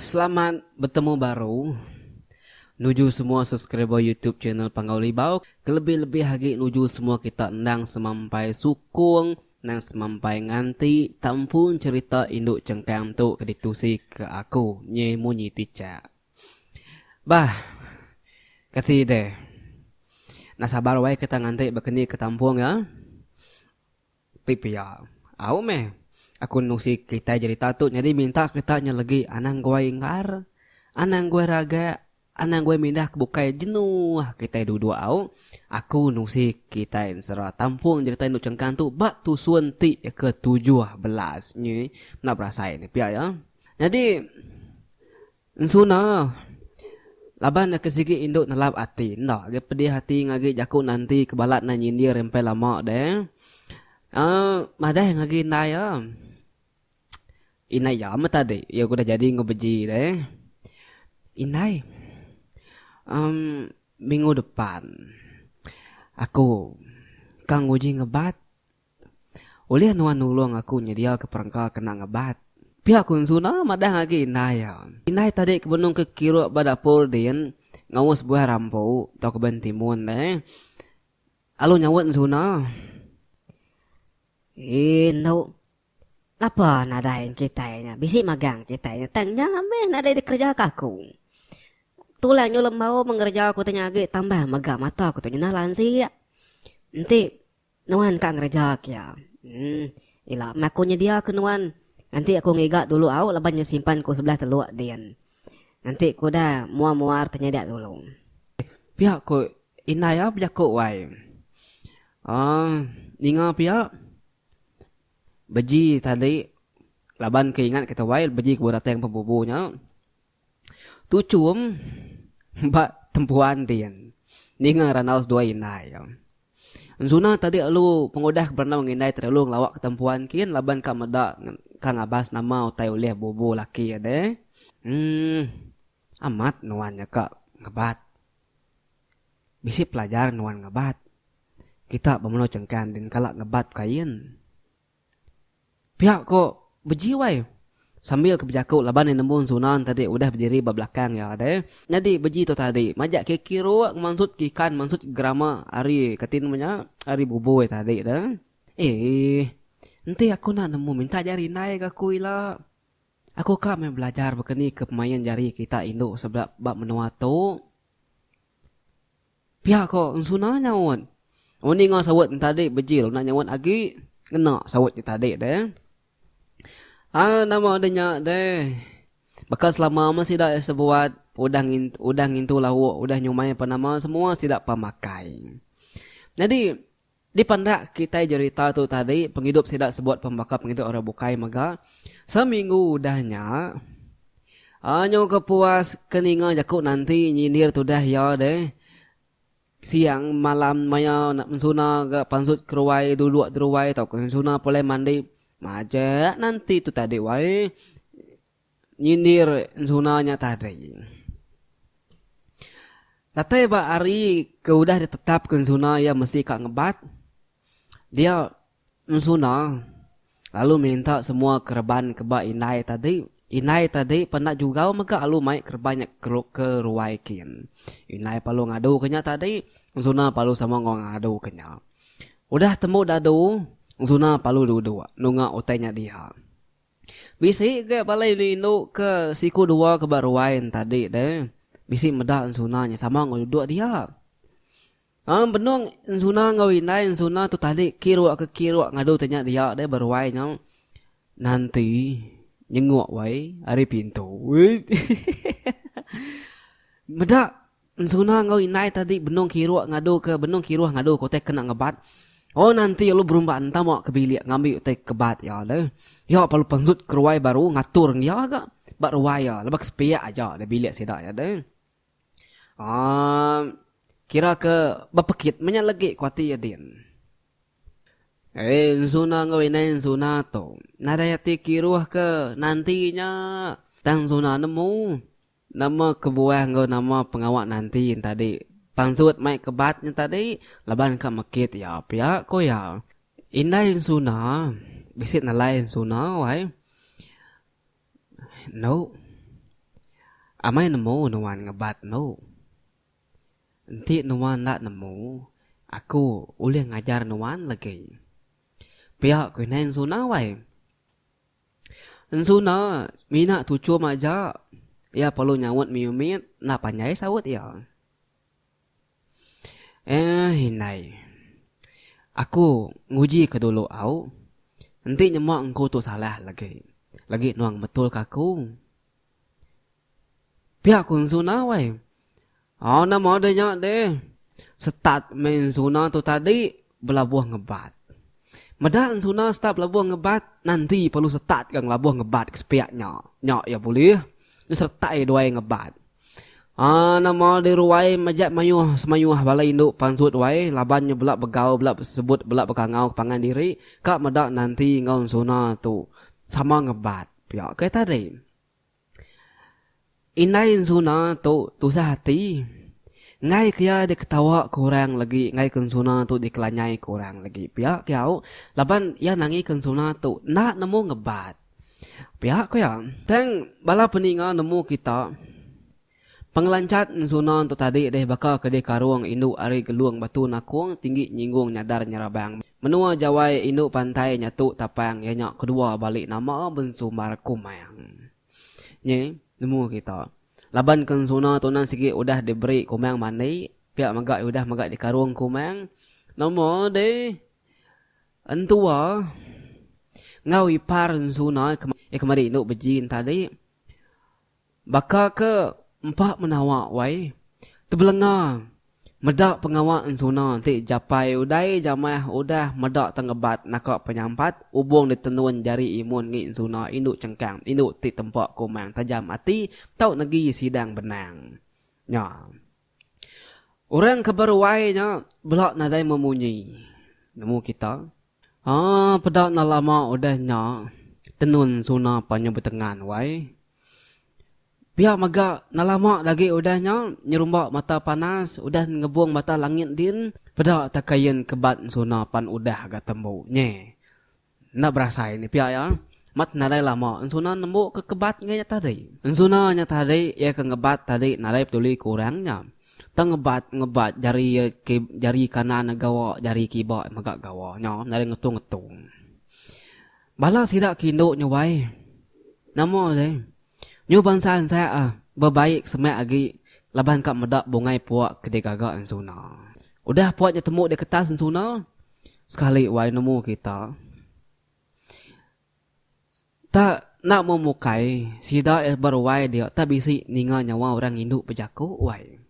Selamat betemu baru nuju semua subscriber YouTube channel Panggau Libau, kelebih-lebih agi nuju semua kita endang semampai sukung Nang semampai nganti tampu ncerita indu cengkang tu ke ditusi ke aku nyi munyi tichak. Bah. Kasi deh. Nah sabar wai kita nganti bakeni ke tampu nya. Ti pia. Au meh. Aku nusi kitai jerita tu nyadi minta kita nya legi anang guai engar, anang guai ragak, Anang gue mindah ke bukai jenuh kitai duduk au. Aku nusi kitai ensera tampung je kitai endu chengkang tu ba tusun ti ke tujuh belas nyi enda berasai ne pia iya. Nyadi ensuna laban nya ke sigi indu nelap ati enda agi pedih ati ngagi jaku nanti ke balat nai nyindir empai lama deh. Uhh madah ngagi indai iya. Indai iya meh tadi iya ke udah jadi enggau beji deh. Indai um minggu depan aku ka nguji ngebat ulih nuan nulung aku nyediaka perengka ke enda ngebat. Pia ku Ensuna madah agi indai iya. Indai tadi ke benung ke kirup ba dapur din ngaus buah rambu tauka buah entimun deh lalu nyaut Ensuna, Eendu. Napa nadai kitai nya bisi magang kitai nya tang nya meh nadai dikerejaka aku. Tulang nyulam bau mengereja aku tu nya agi tambah mega mata aku tu nyinah lansia. Enti nuan ka ngereja ke iya. Hmm, ila meh aku nyedia ke nuan. Nganti aku ngiga dulu au laban nya simpan ku sebelah teluk din. Nganti ku udah muar-muar tenyada dulu. Pia ku indai iya bejaku wai. Aaa, ninga pia. Beji tadi laban ke ingat kita wai beji ke beratang pembubu nya tuchum ba tempuan din ninga randau seduai indai iya. Enzuna tadi lalu pengudah ke berandau enggau indai tadi lalu ngelawa ke tempuan kin laban ka meda ka ngabas nama utai ulih bubu laki ade. Emm amat nuan nya ka ngebat. Bisi pelajar nuan ngebat. Kita bemenu chengkang din kala ngebat kain. Pia ko beji wai. Sambil ke bejaku laban iya nemu Sunan tadi udah bediri ba belakang iya deh. Nyadi beji tu tadi majak ke kiruk ngemansut ke ikan mansut gerama ari kati nama nya ari bubui tadi deh. Eeh. Enti aku enda nemu minta jari indai ga aku ila. Aku ka meh belajar baka ni ke pemain jari kita indu sebedau ba menua tu. Pia ko Ensuna nyaut. Oh ninga saut entadi Bejil enda nyaut agi. Ngena saut ke tadi deh. Ai nama deh nya deh. Baka selama meh sida iya sebuat udah ngintu udah ngintu lauk udah nyumai apan nama semua sida pemakai. Nyadi. Dipenda kitai jerita tu tadi, pengidup sida sebut pembaka pengidup orang bukai mega seminggu udah nya. Anyu ke puas ke ninga jaku nanti nyindir tudah iya deh. Siang malam maya ensuna ga pansut keruai duduk deruai tauka ensuna pulai mandi majak nanti tu tadi wai. Nyindir enzuna nya tadi. Datai ba hari ke udah ditetapka enzuna iya mesti ka ngebat, dia enzuna lalu minta semua kereban ke ba indai tadi, indai tadi pa enda jugau mega lalu mai kereban nya ke ruai kin. Indai pa lalu ngaduka nya tadi, enzuna pa lalu sama enggau ngaduka nya. Udah tembu dadu, enzuna pa lalu duduk nunga utai nya diha. Bisi ga balai enda indu ke siku dua ke ba ruai en tadi deh. Bisi meda ensuna nya sama enggau duduk dia. Am benung ensuna enggau indai ensuna tu tadi kiruk ke kiruk ngadu te nya dia deh ba ruai nya. Nanti nyenguk wai ari pintu. Uish. Meda. Ensuna enggau indai tadi benung kiruk ngadu ke benung kiruh ngadu ke utai kena ngebat. Oh nanti lalu berumba entama ke bilik ngambi utai kebat iya tu. Iya pa lupa ensut ke ruai baru ngatur enggau iya ga ba ruai iya laban ke sepiak aja da bilik sida iya tu. Aaa kira ke bepekit menya legi ku ati iya din. Ai ensuna enggau indai ensuna tu nadai ati kiruh ke nanti nya tang ensuna nemu. Nama kebuah enggau nama pengawa nanti entadi pansut mai ke bat nyentadi laban ka mekit iya pia ku iya. Indai ensuna bisi nelai ensuna wai. Enu. Amai nemu nuan ngebat enu. Enti nuan enda nemu aku ulih ngajar nuan legi. Pia ku indai ensuna wai. Ensu enda mina tuchum aja iya perlu nyaut mih umit enda panjai saut iya. Eeh indai. Aku nguji ke dulu au. Enti nyema engku tu salah lagi. Lagi nuang betul ka aku. Pia ku enzuna wai. Au nama deh nya deh. Setat meh enzuna tu tadi belabuh ngebat. Meda enzuna setat belabuh ngebat nanti perlu setat ga ngelabuh ngebat ke sepia nya. Nya iya bulih disertai duai ngebat. Aaa nama deh ruai majak mayuh semayuh bala indu pansut wai laban nya bela begau bela sebut bela begangau ke pangan diri ka meda nanti enggau enzuna tu sama ngebat. Pia ke tadi. Indai ensuna tu tusah ati. Enggai ke iya diketawa ke orang lagi enggai ke ensuna tu dikelanyai ke orang lagi. Pia ke iya au laban iya nangi ke ensuna tu enda nemu ngebat. Pia ke iya. Tang bala peninga nemu kita. Pengelanchat ensuna tu tadi deh baka ke dikarung indu ari Gelung Batu Nakong tinggi nyinggung nyadar nyerabang menua Jawai indu pantai nyatu tapang iya nya kedua bali nama Bensumbar Kumang nyi nemu kita laban ke ensuna tu endang sigi udah diberi Kumang mandi pia mega iya udah mega dikarung Kumang nama deh entua enggau ipar ensuna iya kemari indu beji ntadi. Baka ke empa menawa wai, tebelenga meda pengawa ensuna enti japai udai jamah udah meda tengebat naka penyampat ubung ditenun jari imun ngi ensuna indu chengkang indu ti tempa kumang tajam ati tau negi sidang benang nya. Orang ke beruai nya bela nadai memunyi. Nemu kita. Haa peda enda lama udah nya tenun suna panyu betengan wai. Pia mega enda lama lagi udah nya nyerumba mata panas udah ngebung mata langit din peda ta kain kebat suna pan udah ga tembu nye. Enda berasai nih pia iya. Mat nadai lama Ensuna nembu ke kebat ngai nya tadi. Ensuna nya tadi iya ke ngebat tadi nadai peduli ke orang nya. Tang ngebat ngebat jari iya ke jari kanan iya gawa jari kiba iya mega gawa nya nadai ngetung ngetung. Bala sida ke indu nya wai. Nama deh. Nyu bansa ensak ah bebaik semak agi laban ka meda bungai pua ke digaga Ensuna. Udah pua nya tembu di ketas Ensuna. Sekali wai nemu kita ta enda memukai sida beruai dia ta bisi ninga nyawa orang indu bejaku wai.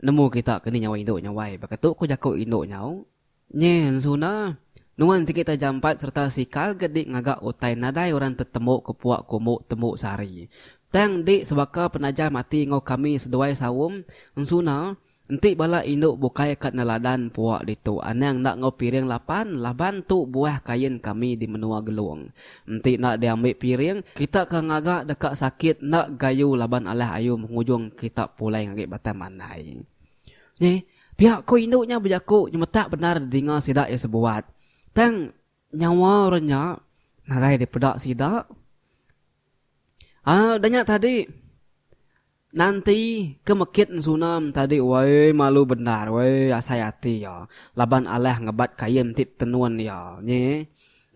Nemu kita kini nyawa indu nya wai baka tu ku jaku indu nyau, Nye ensuna nuan sigi ta jampat serta sikal ke di ngaga utai nadai orang tetembu ke puak kumbu tembu sari. Tang di sebaka penajam ati enggau kami seduai saum ensuna Enti bala indu bukai ka neladan pua ditu anang enda enggau piring lapan laban tu buah kain kami di menua Gelong. Enti enda diambi piring, kita ka ngaga deka sakit enda gayu laban alah ayu mengujung kita pulai ngagi batang mandai. Nya pia ko indu nya bejaku nyemetak bendar didinga sida iya sebuat. Tang nyawa orang nya nadai dipeda sida. Aa danya tadi. Nanti ke mekit ensunam tadi wai malu bendar wai asai ati iya laban alah ngebat kain ti tenun iya nyi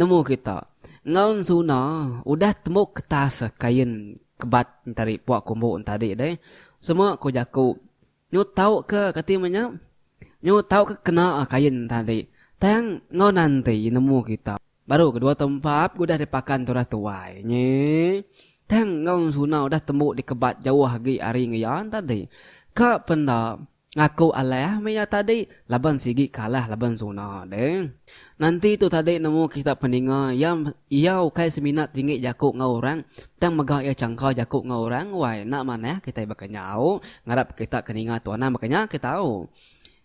nemu kita enggau ensuna udah tembuk ketas kain kebat tadi puak kumbu tadi deh semua ko jaku nyu tau ke kati me nya nyu tau ke kena kain tadi tang enggau nanti nemu kita. Baru kedua tau empap ke udah dipakan tu udah tuai nyi. Tang enggau Suna udah tembu dikebat jauh agi ari enggau iya tadi. Ka pen enda, ngaku alah meh iya tadi laban sigi kalah laban Suna deh. Nanti tu tadi nemu kita peninga iya iya ukai semina tinggi jaku enggau orang tang mega iya changka jaku enggau orang wai enda manah kitai baka nyau ngarap kita ke ninga tu anang baka nya ke tau.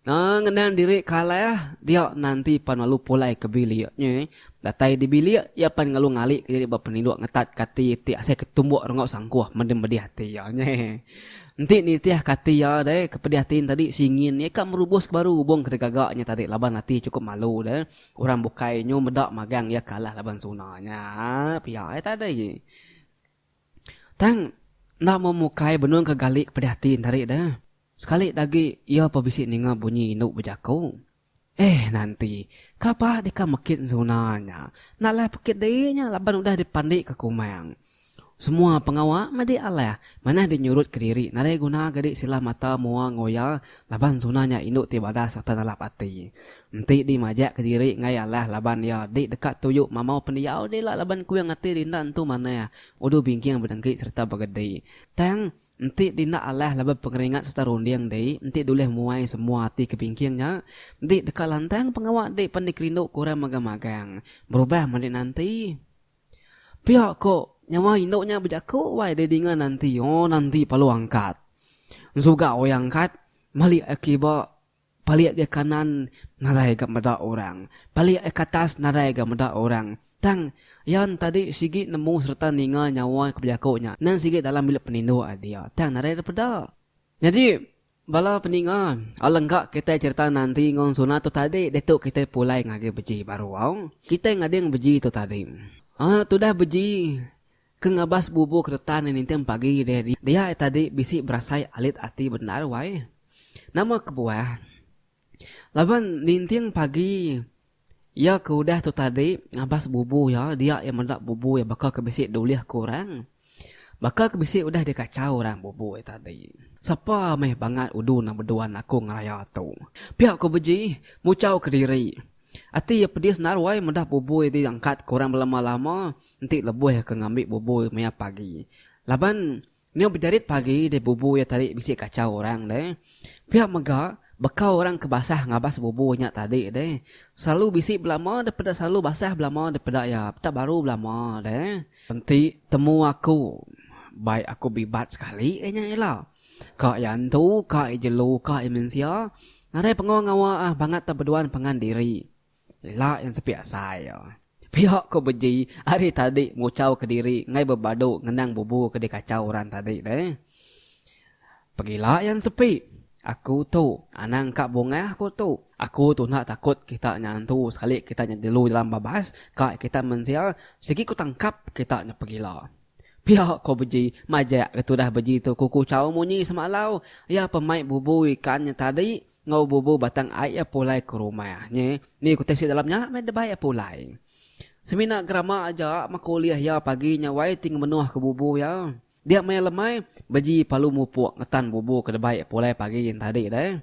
Ngenang diri kalah, dia nanti pan lalu pulai ke bilik nya. Datai di bilik, iya pan lalu ngalika diri ba peniduk ngetat kati ti asai ke tumbuk rengau sangkuh meda medih ati iya nya. Enti nitih kati iya deh, ke pedih ati tadi singin iya ka merubuska baru hubung ke digaga nya tadi laban ati chukup malu deh. Orang bukai nyu meda magang iya kalah laban suna nya. Pia ai tadi. Tang enda memukai benung ke gali ke pedih ati entari da. Sekali dagi iya pa bisi ninga bunyi indu bejaku. Eh nanti, kapa deka mekit ensuna nya. Enda alah pekit diri nya laban udah dipandi ke kumang. Semua pengawa medi alah, manah dinyurut ke diri nadai guna gadi silah mata mua engoya laban ensuna nya indu ti badas sereta nalap ati. Enti di majak ke diri enggai alah laban iya di deka tuju mamau pendiau dila laban kuing ati di enda entu manah udu bingking bedengki sereta begedi. Tang enti di enda alah laban pengeringat sereta runding di enti dulih muai semua ati ke bingking nya di deka lantang pengawa di pan di kerindu ke orang magang-magang berubah meli nanti pia ko nyawa indu nya bejaku wai di dinga nanti ooh nanti palu angkat ensuga oyang angkat meli akiba Palik ga kanan nadai ga meda orang, palik ga katas nadai ga meda orang. Tang, iya entadi sigi nemu sereta ninga nyawa ke bejaku nya nan sigi dalam bilik penindu a dia, tang nadai dipeda. Nyadi, bala peninga, alangka kitai chereta Nanti enggau Ensuna tu tadi ditu kitai pulai ngagai beji baru au. Kitai ngading beji tu tadi. Anak tudah beji Ke ngabas bubu keretan di ninting pagi deh dia ai tadi bisi berasai alit ati bendar wai. Nama kebuah laban ninting pagi iya ke udah tu tadi ngabas bubu iya dia iya meda bubu iya baka ke bisi diulih ku orang. Baka ke bisi udah dikachau orang bubu iya tadi. Sapa meh bangat udu nang beduan aku ngeraya tu. Pia ku Beji muchau kediri. Ati iya pedis naruai meda bubui ti diangkat ke orang belama-lama enti lebuh ke ngambi bubui maya pagi. Laban, nyau bejarit pagi deh bubui iya tadi bisi kachau orang deh. Pia mega, baka orang ke basah ngabas bubui nya tadi deh, selalu bisi belama daripada selalu basah belama daripada iya peda baru belama deh. Enti temu aku, bai aku bibat sekali iya nya ila ka iya antu, ka iya jelu, ka iya mensia, Nadai pengawa ngawa ah bangat tau beduan pangan diri. Ila yang sepi asai oh. Pia ko beji ari tadi nguchau ke diri enggai bebadu ngenang bubu ke di kachau orang tadi deh. Pegila yang sepi. Aku tu. Anang ka bungah ko tu. Aku tu enda takut kita nyantu sekali kita nyejelu dalam babas ka kita mensia sigi ko tangkap kita nya pegila. Pia ko beji, majak ke tudah beji tu kuku chau munyi semalau, iya pun mai bubu ikan nya tadi enggau bubu batang ai iya pulai ke rumah nya. Ni ku tepsi dalam nya meh debai iya pulai. Semina gerama aja maka ulih iya pagi nya wai ti ngemenuh ke bubu iya. Dia maya lemai, beji palu mupuk ngetan bubu ke debai iya pulai pagi nya tadi deh.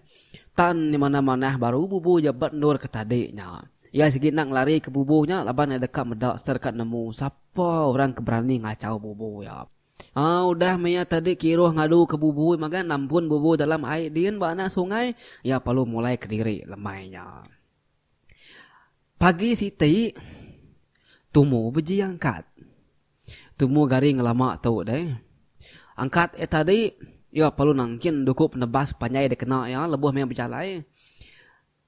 Tan di mana manah baru bubu iya ba endur ke tadi nya. Iya sigi enda ngelari ke bubu nya laban iya deka meda sereta deka nemu sap. Pah orang ke berani ngachau bubu iya. Haa udah meh iya tadi kiruh ngadu ke bubu magan nampun bubu dalam ai din ba anak sungai iya perlu mulai ke diri lemai nya. Pagi siti tumu beji angkat. Tumu gari ngelama tu deh. Angkat iya tadi iya perlu nangkin duku penebas panjai dikena iya lebuh meh bejalai.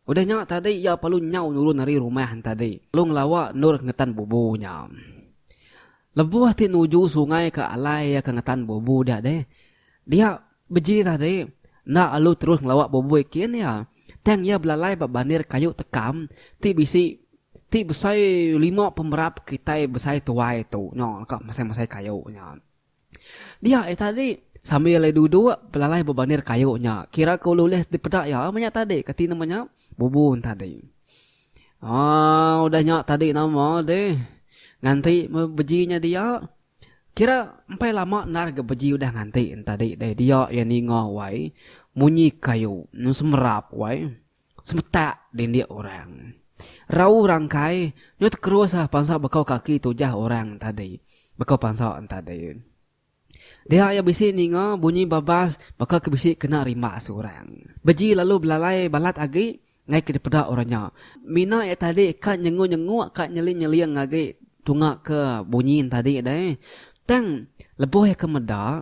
Udah nya tadi iya palu nyau nurun ari rumah entadi lalu ngelawa endur ke ngetan bubu nya. Lebuh ti nuju sungai ke alai iya ke ngetan bubu dia deh. Dia beji tadi enda lalu terus ngelawa bubu ikin iya tang iya belalai ba bandir kayu tekam ti bisi ti besai lima pemerap kitai besai tuai tu nya ka masai-masai kayu nya. Dia iya tadi. Sambil iya duduk, belalai bebandir kayu nya. Kira ke ulih-ulih dipeda iya ama nya tadi. Kati nama nya? Bubun tadi. Aaa udah nya tadi nama deh. Nganti meh beji nya dia. Kira empai lama endar ga beji udah nganti ne tadi deh. Dia iya ninga wai munyi kayu. Semerap wai. Semetak dindik orang. Rau rangkai nyo tekerus lah pansa bekau kaki tujah orang tadi. Bekau pansa entadi. Dia iya bisi ninga bunyi babas baka ke bisi kena rimbas orang. Beji lalu belalai balat agi ngai ke dipeda orang nya. Mina iya tadi ka nyenguk-nyenguk ka nyeling-nyeling agi tunga ke bunyi entadi deh. Tang lebuh iya ke meda.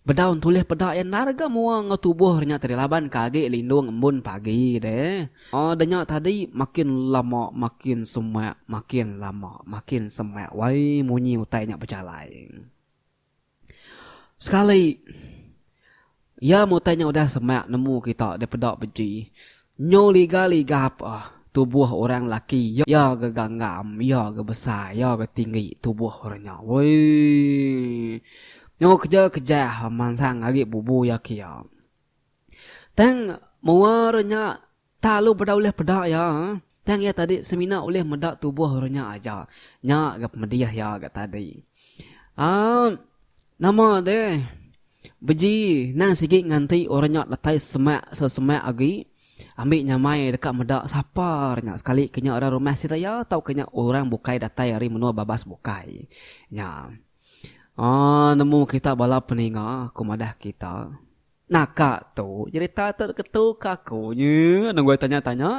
Bedaun tulih peda iya narga mua enggau tubuh re nya tadi laban ke agi lindung embun pagi deh. Aw denya tadi makin lama makin semak makin lama makin semak wai munyi utai nya bejalai. Sekali iya meh utai nya udah semak nemu kita dipeda beji. Nyu liga liga apa tubuh orang laki ya ga ganggam ya ga besai ya ga tinggi tubuh orang nya weii nyu keja keja mansang agi bubu ya kia tang mua orang nya tak lalu beda ulih peda ya tang ya tadi semina ulih meda tubuh orang nya aja nya ga pemedih ya ga tadi aaa nama deh. Beji nang sigi nganti orang nya datai semak so semak agi ambi nyamai deka meda sapa orang nya sekali ke nya orang rumah seraya tauka nya orang bukai datai ari menua babas bukai nya. Aaa nemu kita bala peninga ku madah kita naka tu cerita tu ketu ke aku nyi nungoi tanya tanya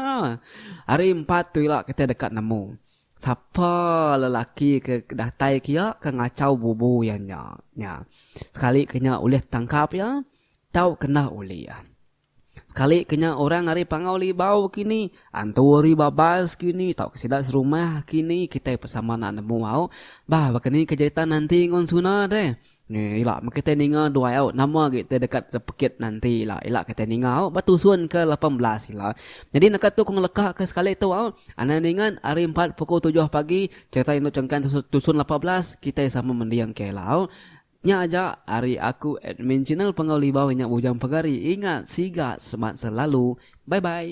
ari empat tu ila kitai deka nemu. Sapa lelaki ke datai ke iya ke ngachau bubu iya nya, nya sekali ke nya ulih tangkap iya tau kena uli iya. Sekali ke nya orang ari Pangau Libau kini, antu ari Babas kini tauka sida serumah kini kitai pe sama anak nemu au. Bah baka ni ke jeritan nanti ngun Suna deh. Ni ila meh kitai ninga duai au nama agi ti deka tepekit nanti ila. Ila kitai ninga au ba tusun ke lapan belas ila. Nyadi naka tu ku ngeleka ke sekali tu au anang ningan hari empat pukul tujuh pagi sereta indu chengkang tusun tusun lapan belas kitai sama mending ke ila au. Nya aja ari aku admin channel Penggau Libau inya Bujang Pegari ingat siga semat selalu. Bye bye.